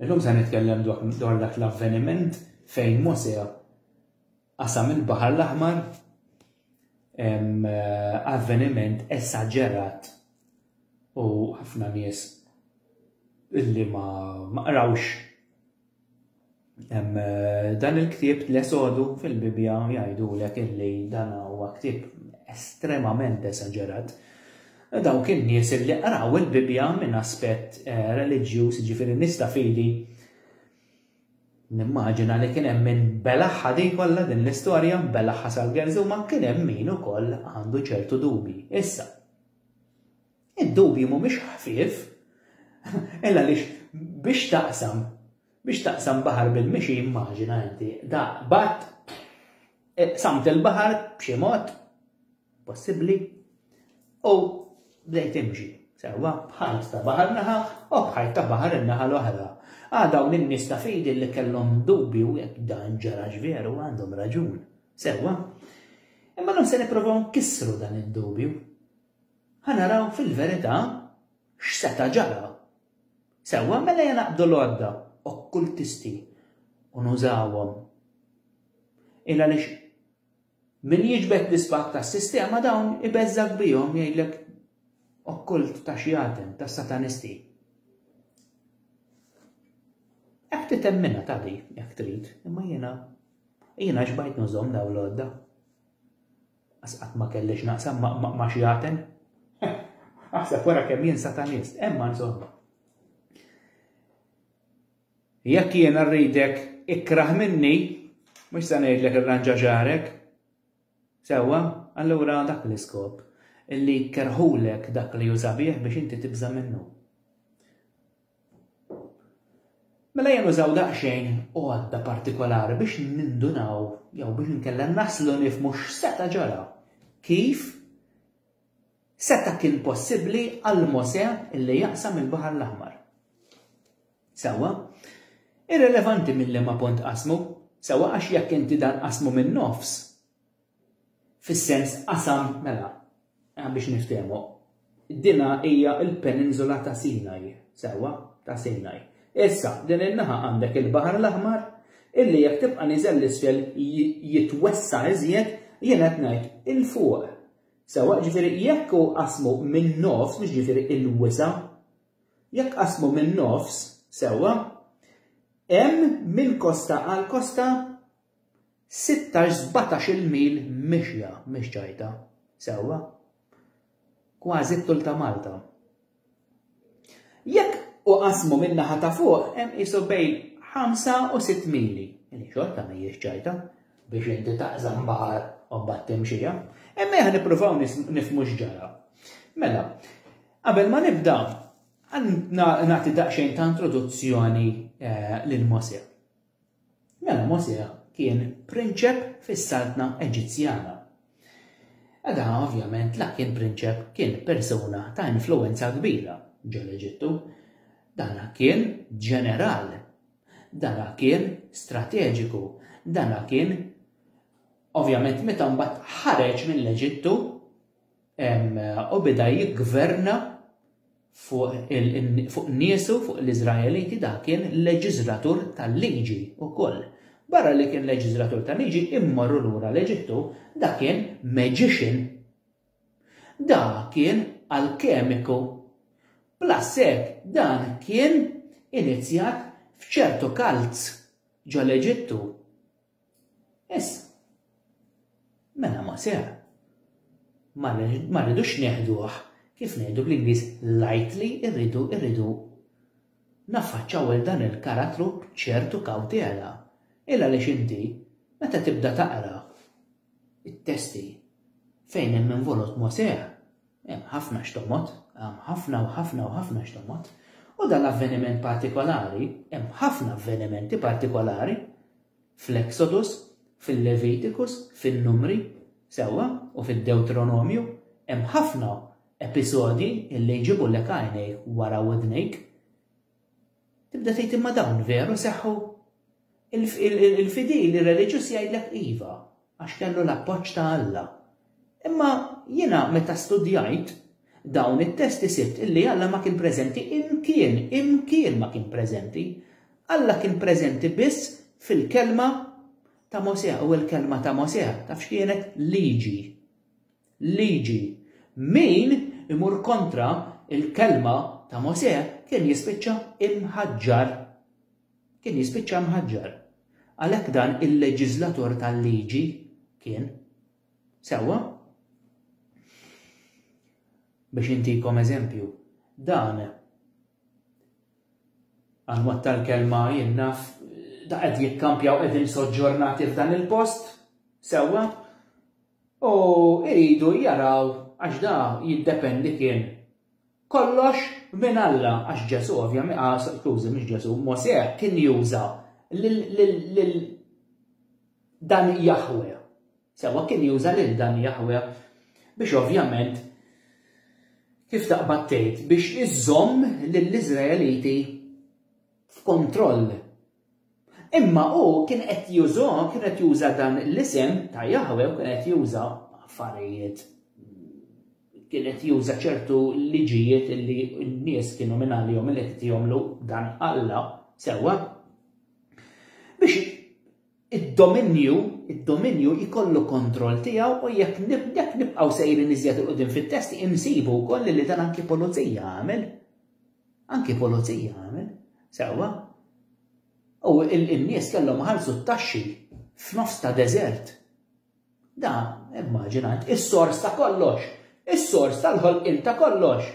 Illum se nitkellem dwar dak l-avveniment fejn Mosè qasam il-Baħar l-Aħmar avveniment esaġerat u ħafna nies illi ma qrawx Dan il-ktieb l-esodu fil-Bibja jgħidulek illi dan huwa ktieb estremament esaġerat. Dawk in-nies illi qraw il-Bibja minn aspett eh, reliġjuż, ġifieri nies ta' fidi, nimmaġina li kien hemm min belaħħa din kollha din l-istorja, belaħħa sal-gerżu ma kien hemm min ukoll għandu ċertu dubi. Issa, id-dubi mhumiex ħfief, illa lix biex taqsam Biex taqsam baħar bil-mixi immaġina inti da batt samt il-baħar b'xi mod possibbli u bdejt imxi sewwa bħal ta' baħar naħa u bħal ta' baħar in-naħa l-oħra. Għadaw ah, l-nies ta' fidi li kellhom dubju jekk dan ġarax veru għandhom raġun. Sewwa. Imma non se nipprovaw nkissru dan id-dubju. Ħanaraw fil-verità x'seta' ġara Sewwa, mela ejja naqbdu l-għodda okkultisti u nużawhom. Il għaliex min jiġbed l-isbaħ tas-sistema dawn ibeżżak bihom jgħidlek okkult ta' xi għatem ta' satanisti. Hekk titemmina ta' di, jekk trid, imma jiena jiena xbajt nużhom daw l-għodda. Għas qatt ma kelli x'naqsam ma' xi għaten. Aħseb wara kemm jien satanist, emma insomma. Jekk jien rridek ikrah minni, mhux se ngħidlek irranġa ġarek. Sewwa, allura dak l-iskop illi kerħulek dak li jużabih biex inti tibża minnu. Mela jien użaw daqsxejn għodda partikolari biex nindunaw jew biex inkella naslu nifmu x'seta' ġara. Kif seta' kien possibbli għal Mose illi jaqsam il-Baħar l-Aħmar? Sewwa, irrelevanti minn liema punt qasmu, sewwa għax jekk inti dan qasmu min-nofs, Fis-sens qasam, mela, biex niftehmu, dinha hija l-Peninsula ta' Sinai, sewwa, ta' Sinai. Issa, din in-naħa għandek il-Baħar l-Aħmar, illi jekk tibqa' niżel 'l isfel jitwessa' iżjed, jien qed ngħid 'il fuq. Sewwa, ġifieri jekk hu qasmu min-nofs, mhux ġifieri l-wisa', jekk qasmu min-nofs, sewwa, hemm minn kosta għal kosta, Sittax, sbatax-il mil mixja mhix ċajta, sewwa? Kważi t-tul ta' Malta. Jekk uqassmu min-naħa ta' fuq hemm qisu bejn ħamsa u sitt mili, li xorta mhijiex ċajta biex inti taqsam baħar u mbagħad timxija. Imma jekk nippruvaw nifhmu x'ġara. Mela, qabel ma nibda, nagħti daqsxejn ta' introduzzjoni eh, lil Mosè. Mela Mosè kien prinċep fis-saltna Eġizzjana. Eda ovvjament la kien prinċep kien persuna ta' influwenza kbira ġol-Eġittu. Dana kien ġeneral. Dana kien strateġiku. Dana kien ovvjament meta mbagħad ħareġ mill-Eġittu u beda jiggverna fuq niesu, fuq l-Iżraeliti, dak kien leġiżlatur tal-liġi wkoll. Barra li kien leġiżlatur tal-liġi, immorru lura l-Eġittu, dak kien magician. Dak kien alkemiku. Plus hekk dan kien inizjat f'ċertu cults ġol-Eġittu. Issa, mela ma seħħ. Ma rridux neħduh kif ngħidu bl-Ingliż lightly, irridu irridu naffaċċaw il dan il-karattru b'ċertu kawtela. Illa għaliex inti meta tibda taqra it-testi fejn hemm involut Mosè, Hemm ħafna x'tommod, hemm ħafna u ħafna u ħafna x'tommod. U dan l-avveniment partikolari, hemm ħafna avvenimenti partikolari fl-Exodus, fil-Levitikus, fin-Numri, sewwa, u fid-Dewtronomju, hemm ħafna episodji illi jġibulek għajnejk wara widnejk. Tibda tgħid imma dawn veru seħħu? Il-fidil, ir-reliġjuż jgħidlek iva, għax kellu l-appoġġ ta' Alla. Imma jiena meta studjajt dawn it-testi sibt illi Alla ma kien preżenti imkien, imkien ma kien preżenti. Alla kien preżenti biss fil-kelma ta' Mosè u l-kelma ta' Mosè taf x'kienet? Liġi. liġi. Min imur kontra l-kelma ta' Mosè kien jispiċċa mħaġġar. Kien jispiċċa mħaġġar. Għalhekk dan il-leġiżlatur tal-liġi kien. Sewwa? Biex intikom eżempju, dan għanwat tal-kelma jinnaf da qed jikkampjaw qegħdin soġġornati f'dan il-post, sewwa? U jridu jaraw għax da jiddependi kien kollox minn Alla għax Ġesù ovvjament ah skużi mhux Ġesù, Mosè kien juża lil dan Jaħwe. Sewwa kien juża lil dan Jaħwe biex ovvjament kif taqbad tgħid biex iżomm lill-Iżraeliti f'kontroll Imma hu kien qed juża, kien qed juża dan l-isem ta' Jaħweh u kien qed juża affarijiet, kien qed juża ċertu liġijiet li n-nies kienu minn għalihom li qed jagħmlu dan Alla, sewwa? Biex id-dominju, id-dominju jkollu kontroll tiegħu u jekk nibqgħu sejrin iżjed il-qudiem fit-testi insibu wkoll li dan anki pulizija għamel. Anki pulizija għamel, sewwa. U n-nies kellhom iħallsu t-taxxi f'nofs ta' deżert. Da, immaġina, is-sors ta' kollox, is-sors tal-ħolqien ta' kollox.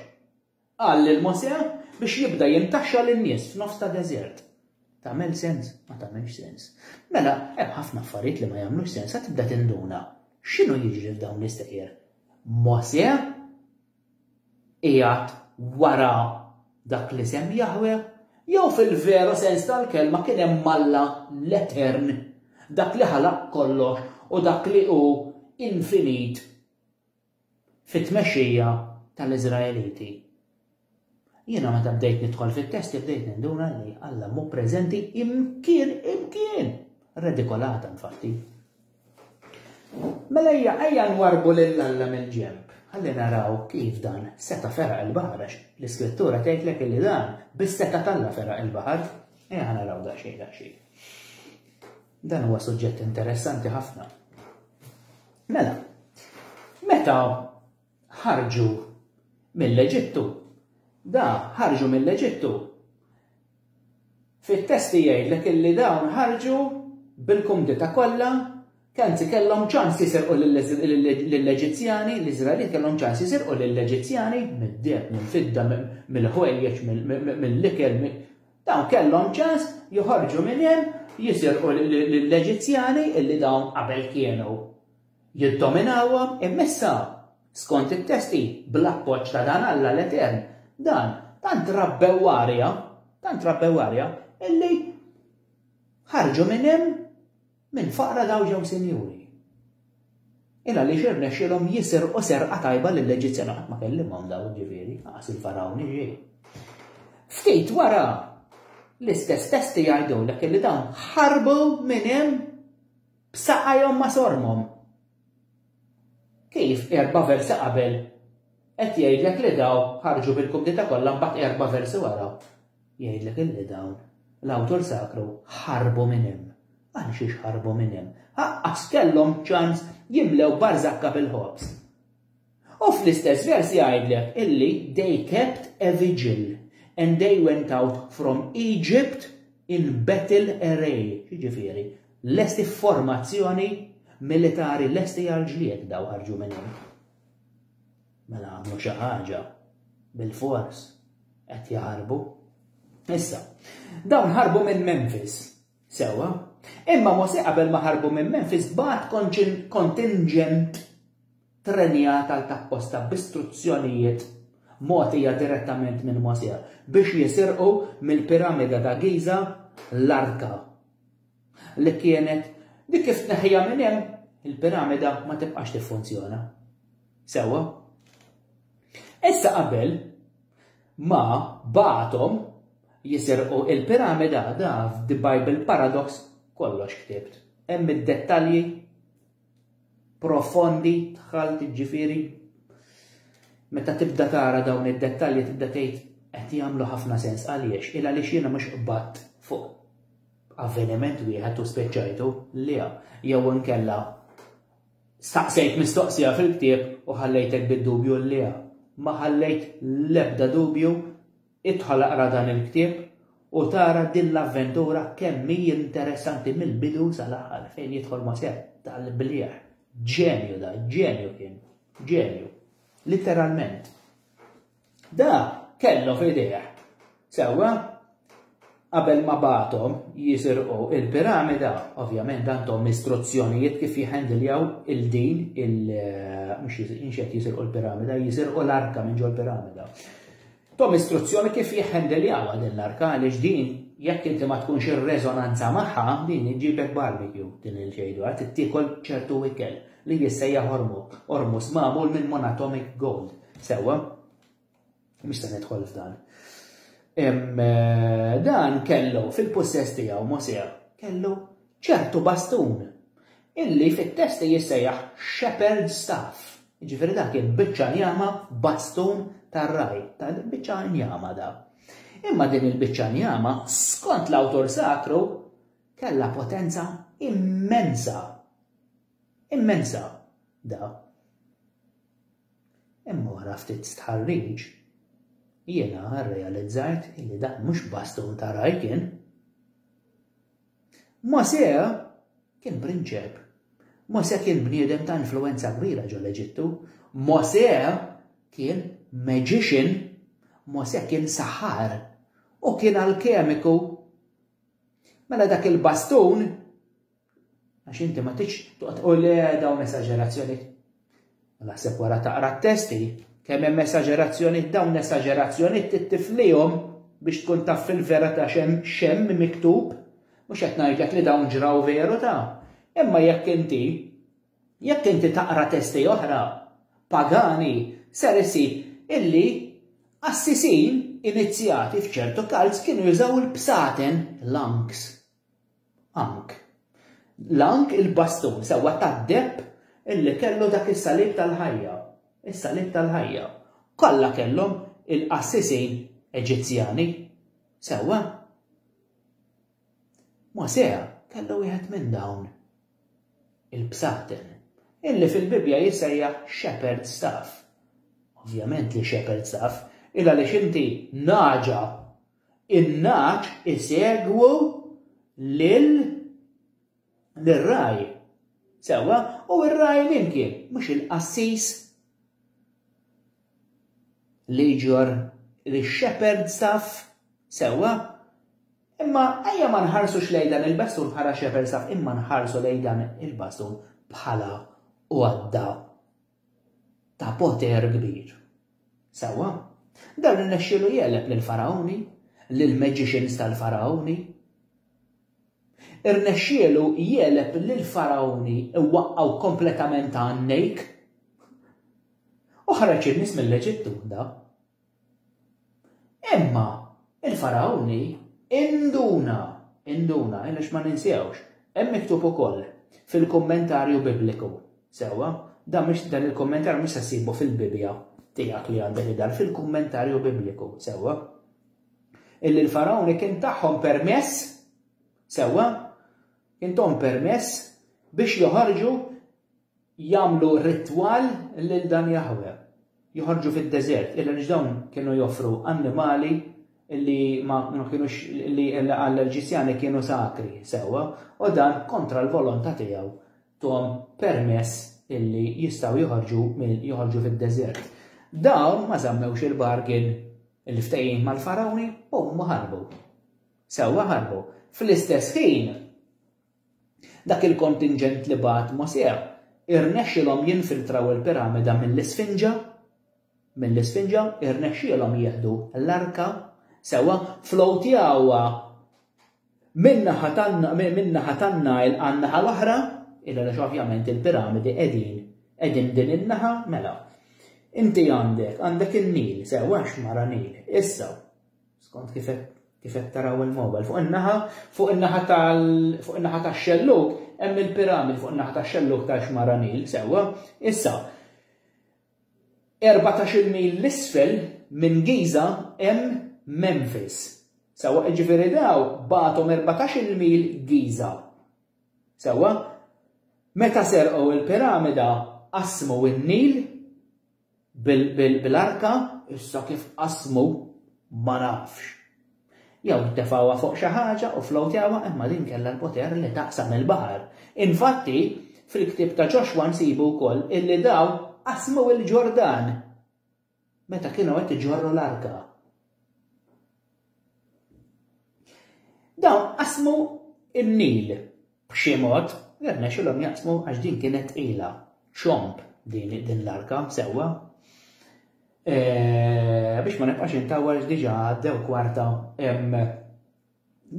Qal lil Mosè biex jibda jintaxxa lin-nies f'nofs ta' deżert. Tagħmel sens? Ma tagħmilx sens. Mela, hemm ħafna affarijiet li ma jagħmlux sens, sa tibda tinduna. X'inhu jiġri f'dawn l-istejjer? Mosè qiegħed wara dak l-isem Jaħweh, jew fil-veru sens tal-kelma kien hemm Alla l-Etern, dak li ħalaq kollox u dak li hu infinit fit-tmexxija tal-Iżraeliti. Jiena meta bdejt nidħol fit-testi bdejt ninduna li Alla mhu preżenti imkien imkien! Redikolata infatti. Mela ejja ejja nwarbu lil Alla mill-ġenb. Ħalli naraw kif dan seta' feraq il-baħar għax l-Iskrittura tgħidlek illi dan bis-seta' t'Alla feraq il-baħar. Ejja naraw daqsxejn daqsxejn. Dan huwa suġġett interessanti ħafna. Mela, meta ħarġu mill-Eġittu. Da, ħarġu mill-Eġittu. Fit-testi jgħidlek illi dawn ħarġu bil-kumdita kollha, kanzi kellhom ċans jisirqu lill-Eġizzjani, l-Iżraelin kellhom ċans jisirqu lill-Eġizzjani mid-deb, mill-fidda, mill-ħwejjeġ, mill-ikel, dawn kellhom ċans joħorġu minn hemm jisirqu lill-Eġizzjani illi dawn qabel kienu jiddominawhom imma issa, skont it-test hi, bl-appoġġ ta' dan Alla l-Etern, dan, tant rabbew arja, tant rabbew arja, illi ħarġu minn hemm minn faqra dawn ġew sinjuri. Il għaliex irnexxilhom jisirqu serqa tajba lill-Eġizzjan qatt ma kellimhom daw ġifieri, qas il-farawn iġi. Ftit wara l-istess testi jgħidulek li dawn ħarbu minn hemm B'saqajhom ma' sormhom. Kif erba' versi qabel qed jgħidlek li dawn ħarġu bil-kumdita kollha mbagħad erba' versi wara jgħidlek illi dawn l-awtur sakru ħarbu minn hemm. Għal xiex ħarbu minn hemm? Aqqas kellhom ċans jimlew barzakka bil-ħobż. U fl-istess vers jgħidlek illi they kept a vigil and they went out from Egypt in battle array. X'jiġifieri? Lesti f'formazzjoni militari lesti għall-ġlied daw ħarġu minn hemm. Mela għamlu xi ħaġa bil-fors qed jaħarbu. Issa, dawn ħarbu minn Memphis, sewa, imma Mose qabel ma ħarbu minn Memphis bat kontingent Ttrennjat għal tapposta b'istruzzjonijiet mogħtija direttament minn Mosè biex jisirqu mill-Piramida ta' Giża l-Arka, li kienet li kif tneħħiha minn hemm, il-Piramida ma tibqax tiffunzjona. Sewwa? Issa qabel ma bagħathom jisirqu il-Piramida da f'The Bible Paradox kollox ktibt. Hemm id-dettalji profondi dħalt ġifieri meta tibda tara dawn id-dettalji tibda tgħid qed jagħmlu ħafna sens għaliex il għaliex jiena mhux qbatt fuq avveniment wieħed u speċajtu li jew inkella staqsejt mistoqsija fil-ktieb u ħallejtek bid-dubju li ma ħallejt l-ebda dubju Idħol aqra dan il-ktieb u tara din l-avventura kemm hi interessanti mill-bidu sal-aħħar fejn jidħol ma' sett tal-bliegħ. Ġenju da, ġenju kien. Ġenju. Litteralment. Da kellu f'idejh. Sewwa? Qabel ma bagħathom jisirqu l-piramida, ovvjament għandhom istruzzjonijiet kif jiħendiljaw il-din il mhux inxed jisirqu l-piramida, jisirqu l-arka minn ġol piramida. Tom istruzzjoni kif jiħendiljawha din l-arka għaliex din jekk inti ma tkunx ir-reżonanza magħha din iġibek barbecue din il-ġejdu għad tiekol ċertu ikel li jissejja hormu, hormus magħmul minn monatomic gold. Sewwa? Mhux se nidħol f'dan. Eh, dan kellu fil-pussess tiegħu Mosè kellu ċertu bastun illi fit-testi jissejjaħ shepherd staff. Ġifieri dak kien biċċa njama bastun tar-raj, ta' biċċa njama da. Imma din il-biċċa njama skont l-awtur sakru kellha potenza immensa. Immensa, da. Imma wara ftit stħarriġ, jiena rrealizzajt illi dan mhux bastun ta' ragħaj kien. Mosè kien prinċep. Mosè kien bniedem ta' influwenza kbira ġo l-Eġittu. Mosè kien magician. Mosè kien saħħar. U kien alkemiku. Mela dak il-bastun Għax inti ma tix toqgħod u le dawn esaġerazzjoni. Naħseb wara taqra t-testi, kemm hemm esaġerazzjoni dawn esaġerazzjoni tittiflihom biex tkun taf fil-vera ta' xem xem miktub, mhux qed ngħidlek li dawn ġraw veru ta' imma jekk inti jekk inti taqra testi oħra pagani ser isib illi assisin inizjati f'ċertu kalz kienu jużaw il-bsaten, l-anks, Ank. L-ank il-bastun sewwa tad-deheb illi kellu dak is-salib tal-ħajja. Is-salib tal-ħajja. Kollha kellhom il-qassisin Eġizzjani. Sewwa? Mosè kellu wieħed minn dawn il-bsaten illi fil-Bibbja jissejjaħ shepherd staff. Ovvjament li shepherd staff, il għaliex inti naġa in-nagħaġ isegwu lil lir-ragħaj. Sewwa, u r-ragħaj min kien? Mhux il-qassis li jġorr lix-shepherd staff? Sewwa, imma ejja ma nħarsux lejn dan il-bastun bħala shepherd staff imma nħarsu lejn dan il-bastun bħala għodda ta' poter kbir. Sewwa, dan irnexxielu jegħleb lill-Fargħuni, lill-magicians tal-Fargħuni. Irnexxielu jegħleb lill-Fargħuni iwaqqgħu kompletament għan-nejk. U ħareġ in-nies mill-Eġittu, da. Imma il-Fargħuni induna, induna, għaliex ma ninsewx, hemm miktub ukoll fil-kummentarju Bibliku, sewwa, dan mhux dan il-kummentarju mhux se ssibu fil-Bibbja tiegħek li għandek idar, fil-kummentarju Bibliku, sewwa, illi l-Fargħuni kien tagħhom permess, sewwa, intom permess biex joħorġu jagħmlu ritwal lil dan Jaħwe. Joħorġu fid-deżert, illa għaliex dawn kienu joffru annimali li ma kienux li għall-Ġisjani kienu sakri sewwa u dan kontra l-volontà tiegħu tom permess illi jistgħu joħorġu minn joħorġu fid-deżert. Dawn ma żammewx il-bargain il-ftehim mal-farawni u ma ħarbu. Sewwa ħarbu. Fl-istess ħin Dak il-kontinġent li bagħat Mosè irnexxielhom jinfiltraw il-piramida mill-Isfinġa, mill-Isfinġa, irnexxielhom jieħdu l-arka, sewwa, floateawha min-naħa tan min-naħa tan-Nile għan-naħa l-oħra, il għaliex ovvjament il-piramidi qegħdin qegħdin din in-naħa, mela. Inti għandek, għandek in-Nil, sewwa x'mara Nil. Issa, Skont kif qed taraw il-mobile. Fuq in-naħa, fuq in-naħa tal fuq in-naħa tax-xelluk hemm il-piramid fuq in-naħa tax-xelluk tal-xmara Nil, sewwa. Issa, 14 mil l-isfel minn Giza hemm Memphis. Sawa, ġifiri daw batom 14 mil Giza. Sawa, meta serqu il-piramida qasmu n-Nil Bil-arka issa kif qasmu ma nafx. Jew ttefgħuha fuq xi ħaġa u fflowtjawha imma din kellha l-poter li taqsam il-baħar. Infatti, fil-ktieb ta' Ġoxwa nsibu wkoll illi dawn qasmu l-Ġordan meta kienu qed iġorru l-arka. Dawn qasmu n-Nil b'xi mod, irnexxilhom jaqsmu għax din kienet tqila, ċomb din din l-arka sewwa. E, biex ma nibqax intawwal diġà għaddew kwarta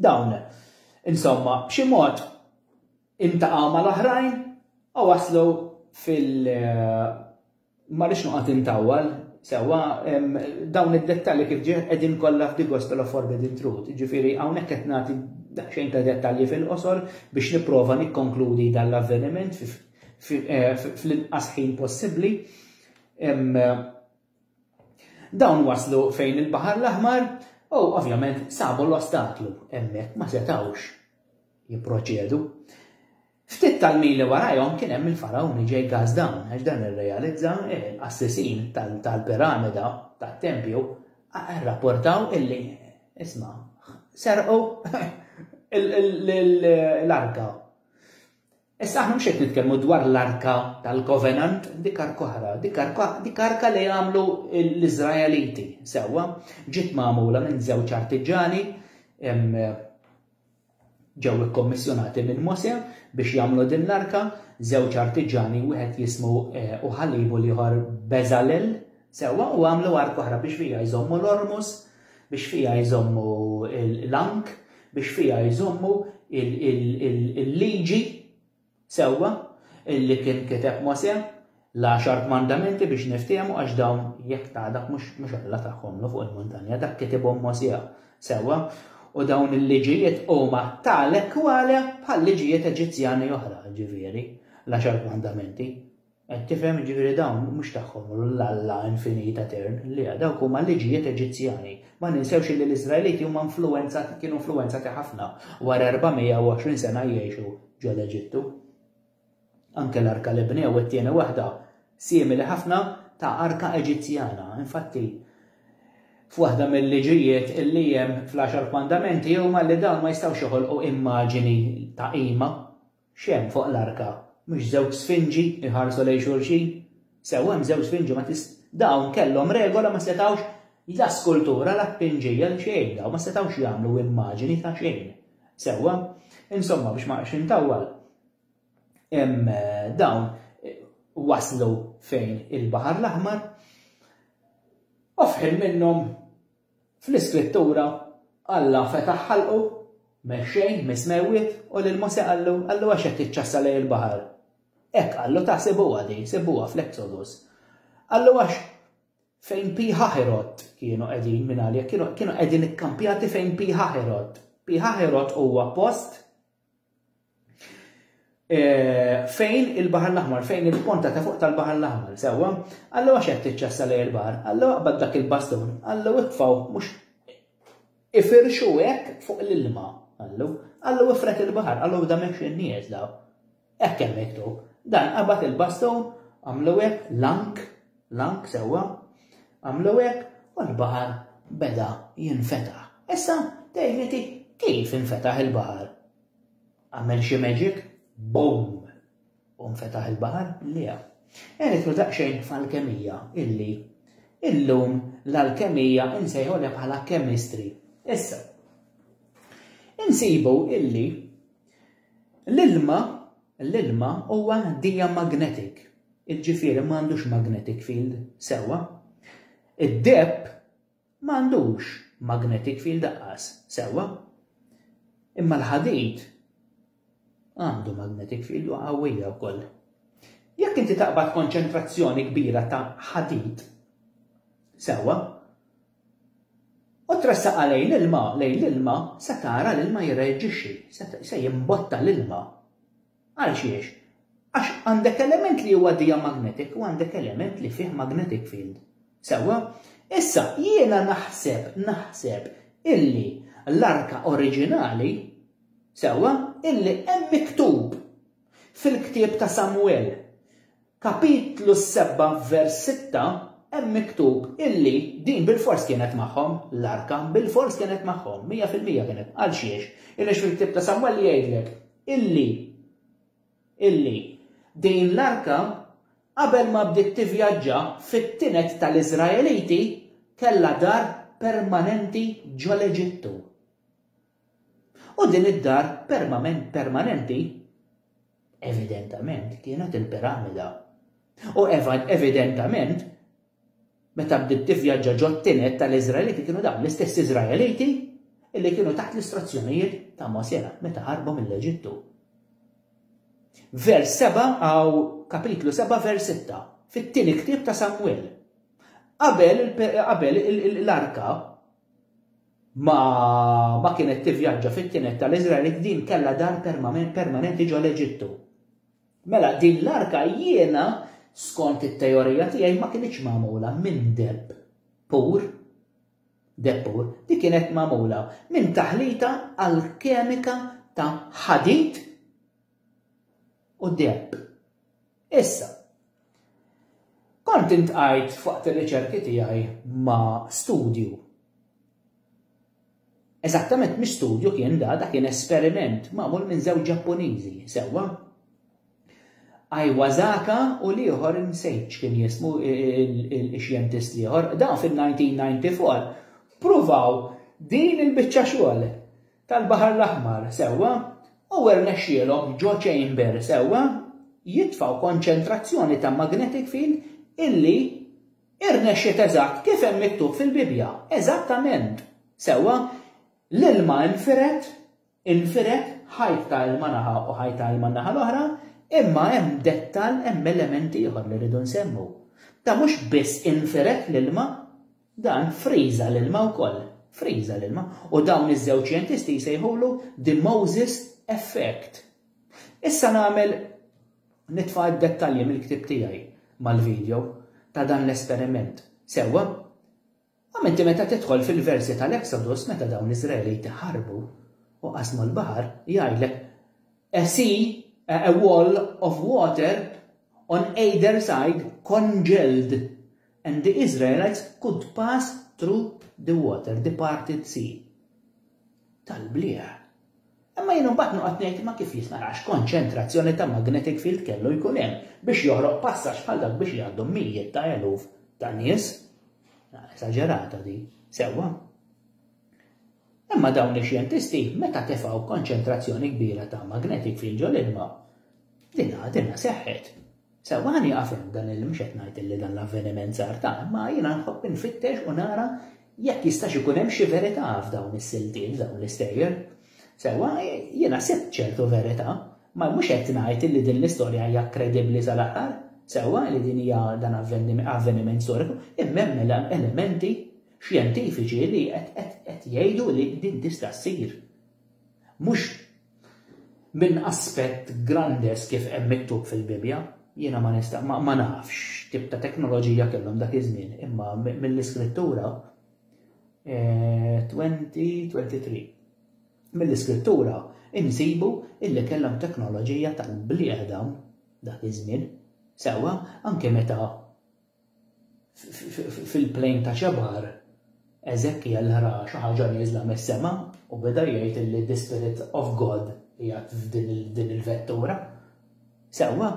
dawn. Insomma, b'xi mod intaqgħu mal-oħrajn u waslu fil- Ma rridx noqgħod intawwal, sewwa dawn id-dettalji kif ġie qegħdin kollha f'Di Gospel of Forbidden Truth, jiġifieri hawnhekk qed nagħti daqsxejn ta' dettalji fil-qosor biex nipprova nikkonkludi dan l-avveniment eh, fl-inqas ħin possibbli. Dawn waslu fejn il-Baħar l-Aħmar u ovvjament sabu l-ostaklu hemmhekk ma setawx jipproċedu. Ftit tal-mili warajhom kien hemm il-Fargħun li ġej gas down għax dan irrealizza li l-qassisin tal-piramida tat-tempju rrapportaw illi, isma', serqu l-arka. Issa aħna mhux qed nitkellmu dwar l-arka tal-kovenant, dik arka oħra, dik arka li jagħmlu l-Iżraeliti sewwa, ġiet magħmula minn żewġ artiġani Ġew ikkommissjonati minn Mosè biex jagħmlu din l-arka żewġ artiġani, wieħed jismu Oħalib u l-ieħor Beżalel, sewwa, u għamlu arka oħra biex fiha jżommu l-ormus, biex fiha jżommu l-għank, biex fiha jżommu l-liġi Sewwa, illi kien kiteb Mosè, l-għaxar kmandamenti biex niftiehmu għax dawn jekk ta' dak mhux mhux Alla tagħhomlu fuq il-muntanja, dak kitibhom Mosè. Sewwa, u dawn il-liġijiet huma tale kwale bħal liġijiet Eġizzjani oħra, ġifieri, l-għaxar kmandamenti. Qed tifhem, jiġifieri dawn mhux tagħhom l Alla infinit etern, le, dawk huma liġijiet Eġizzjani. Ma ninsewx illi l-Iżraeliti huma influwenzati, kienu influwenzati ħafna wara 420 sena jgħixu ġo l-Eġittu. Anke l-arka li bnew it-tieni waħda simili ħafna ta' arka Eġizzjana. Infatti, f'waħda mill-liġijiet illi hemm fl-għaxar kmandamenti huma li dawn ma jistgħux joħolqu immaġini ta' qima X'hemm fuq l-arka? Mhux żewġ sfinġi jħarsu lejn xulxin? Sew, hemm żewġ sfinġi ma tist. Dawn kellhom regola ma setgħux la skultura la tpinġija la xejn dawn ma setgħux jagħmlu immaġini ta' xejn. Sewwa? Insomma biex ma nqgħodx intawwal hemm dawn waslu fejn il-Baħar l-Aħmar u f'ħin minnhom Fl-Iskrittura, Alla fetaħ ħalqu, mix-xejn, mis-smewwiet, u lil Mosè qallu, Qallu, Għax qed tiċċassa lejn il-baħar. Hekk qallu, ta' sibuha din, sibuha fl-Exodus. Qallu għax fejn Pi Ħaħirot kienu qegħdin mingħajr jekk kienu qegħdin ikkampjati fejn Pi Ħaħirot. Pi Ħaħirot huwa post Eh, fejn il-Bahar l-Aħmar, fejn il-ponta ta' fuq tal-Bahar l-Aħmar, sewa, għallu għax qed tiċċassa lej il-bahar, għallu għabad dak il-baston, għallu iqfaw mhux ifirxu hekk fuq l-ilma, għallu, għallu ifret il-bahar, għallu da mhux in-nies daw. Hekk hemm dan qabad il-baston, għamlu hekk lank L-għank sewwa, għamlu hekk u l-baħar beda jinfetaħ. Issa tgħidliti kif infetaħ il-baħar? Għamel xi magic? Boom! U nfetaħ il-baħar? Le. Għeritlu daqsxejn f'alkemija illi illum l-alkemija insejħolha bħala kemistri. Issa, insibu illi L-ilma, l-ilma huwa diamagnetic, jiġifieri m'għandux magnetic field, sewwa. Id-deheb m'għandux magnetic field aqqas, sewwa. Imma l-ħadid għandu magnetic field u qawwija wkoll. Jekk inti taqbad konċentrazzjoni kbira ta' ħadid, sewwa, U tressaqha lejn l-ilma, lejn l-ilma, se tara l-ilma jirreaġixxi, se jimbotta l-ilma. Għal xiex? Għax għandek element li huwa diamagnetic u għandek element li fih magnetic field. Sewwa? Issa, jiena naħseb, naħseb illi l-arka oriġinali, sewwa, illi hemm miktub fil-ktieb ta' Samwel. Kapitlu s-sebgħa vers sitta hemm miktub illi din bilfors kienet magħhom, l-arka bilfors kienet magħhom, mija fil-mija kienet, għalxiex? Illi fil-ktieb ta' Samweli jgħidlek illi illi din l-arka qabel ma bdiet tivvjaġġa fit-tined tal-Iżraeliti kellha dar permanenti ġol-Eġittu. U din id-dar permament permanenti evidentament kienet il-piramida. U evidentament meta bdiet tivvjaġġa ġottinet tal-Iżraeliti kienu dawn l-istess Iżraeliti illi kienu taħt l-istruzzjonijiet ta' Mosè meta ħarbu mill-Eġittu. Vers 7 għaw kapitlu 7 vers 6 fit-tieni ktieb ta' Samuel. Qabel l-arka ma ma kienet tivvjaġġa fit-tined tal-Iżraelit din kellha dar permanenti ġo l-Eġittu. Mela din l-arka jiena skont it-teorija tiegħi ma kinitx magħmula minn deb pur depur li kienet magħmula minn taħlita alkemika ta' ħadid u deb. Issa, kont intqajt f'waqt ir-riċerki tiegħi ma' studju. Eżattament mhux studju kien da, da kien esperiment magħmul minn żewġ Ġappuniżi, sewwa? Iwasaka u l-ieħor insejt x'kien jismu ix-xjentist l-ieħor, dawn fin-1994 pruvaw din il-biċċa xogħol. tal-Baħar l-Aħmar sewwa u rnexxielhom ġo chamber sewwa jitfgħu konċentrazzjoni ta' magnetic field illi irnexxiet eżatt kif hemm miktub fil-Bibbja, eżattament sewwa l-ilma nfired, infired ħajt ta' ilma naħa u ħajt ta' ilma naħa l-oħra, imma hemm dettall, hemm element ieħor li rridu nsemmu. Ta' mhux biss infired l-ilma, Dan friża l-ilma wkoll. Friża l-ilma. U dawn iż-żewġ xjentisti jsejħulu the Moses effect. Issa nagħmel nitfa' d-dettalji mill-ktieb tiegħi mal-video ta' dan l-esperiment. Sewwa? Għam inti meta tidħol fil-versi tal-Exodus meta dawn l-Iżraeliti ħarbu u qasmu l-baħar jgħidlek a sea, a wall of water on either side congealed. And the Israelites could pass through the water, the parted sea. Tal-bliegħ. Imma jien imbagħad noqgħod ngħid ma kif jista' għax konċentrazzjoni ta' magnetic field kellu jkun hemm biex joħroq passaġġ bħal dak biex jgħaddu mijiet ta' eluf ta' nies. Esaġerata di, sewwa. Imma dawn ix-xjentisti meta tefgħu konċentrazzjoni kbira ta' magnetic field ġol-ilma, dinha dinha seħħet. Sewwa ħa nieqaf hemm dan il mhux qed ngħid li dan l-avveniment sar ta' imma jiena nħobb infittex u nara jekk jistax ikun hemm xi verità f'dawn is-siltiet, f'dawn l-istejjer. Sewwa jiena sibt ċertu verità, ma mhux qed ngħid li din l-istorja hija kredibbli sal-aħħar, sewwa li din hija dan avveniment storiku, imma hemm mela elementi xjentifiċi li qed jgħidu li din tista' ssir. Mhux minn aspett grandes kif hemm miktub fil-Bibbja, jiena ma nista' ma nafx x'tip ta' teknoloġija kellhom dak iż-żmien, imma mill-Iskrittura 2023. Eh, mill-Iskrittura insibu illi kellhom teknoloġija tal-bliedem dak iż-żmien. Sewwa, anke meta fil-plejn ta' Ċebar, Eżekjel ra xi ħaġa nieżla mis-sema u beda jgħid li the Spirit of God qiegħed f'din il-vettura. Sewwa,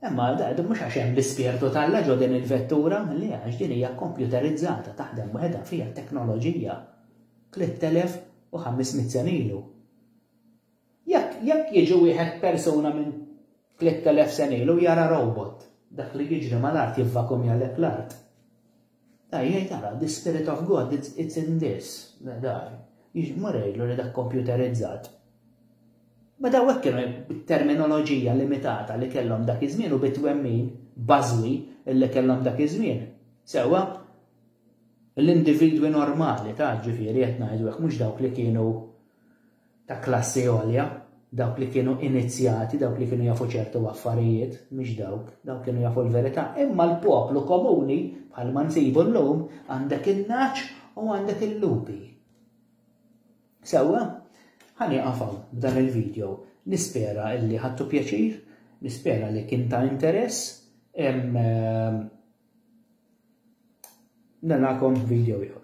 imma din mhux għax hemm l-ispirtu tal-la ġo din il-vettura, li għax din hija kompjuterizzata taħdem waħedha fiha teknoloġija. 3500 senilu. Jekk, jekk jiġi wieħed persuna minn tliet elef sena ilu u jara robot, dak li jiġri mal-art jivvakumjalek l-art. Ej, jgħid ara, the spirit of God, it's, it's in this, dar. Mur jgħidlu li dak kompjuterizzat. Ma daw hekk kienu bit-terminoloġija limitata li kellhom dak iż-żmien u bit-twemmin bażwi li kellhom dak iż-żmien. Sewwa, l-individwi normali ta' ġifieri qed ngħidu hekk mhux dawk li kienu ta' klassi għolja, dawk li kienu inizzjati, dawk li kienu jafu ċertu affarijiet, mhux dawk, dawk kienu jafu l-verità, imma l-poplu komuni, bħalma nsibu llum, għandek in-nagħaġ u għandek il-lupi. Sewwa, ħani qafaw b'dan il-video, nispera illi ħattu pjaċir, nispera li kien ta' interess, em, em, narakom video ieħor.